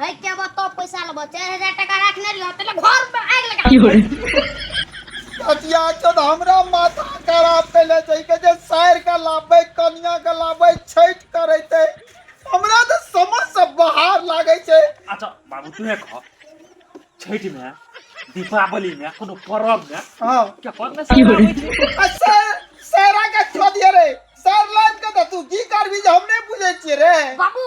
है के बा तो पैसा लेबो 4000 टाका रखने रहियो तले घर में आग लगा की होरे अतिया चोद हमरा माथा खराब कैले छै के जे सायर का लाबै कनिया का लाबै छैठ करैते हमरा त समझ से बाहर लागै छै अच्छा बाबू तू है कह छठ में दीपावली में कोनो पर्व में हां के पर्व में की होरे अच्छा सायरा का छोड़ दिए रे सायर लाइन का त तू की करबी जे हम नै बुझै छियै रे बाबू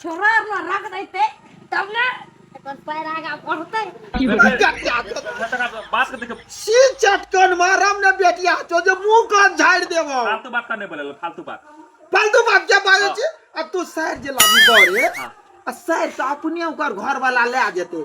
छोरा आर ने रख देते तब ना अपन पैर आगा बढ़ते बात के देखे छी चटकन मारम ने बेटिया तो जे मुंह कान झाड़ देबो फालतू बात का नहीं बोले फालतू बात फालतू बात क्या बाजै छी आ तू सैर जे लाबी बरे आ सैर त अपने ओकर घर वाला ले आ जेते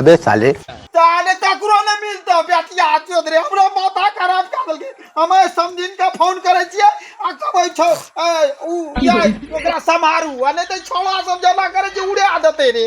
अबे साले ताने तकरो ने मिलतो बेटिया चोद रे हमरा माथा खराब कर देलके हम समझिन के फोन करे छिए आ कहबै छौ ए, उ या ओकरा समारू आ नै त छोड़ा सब जमा करे जे उड़ा देते रे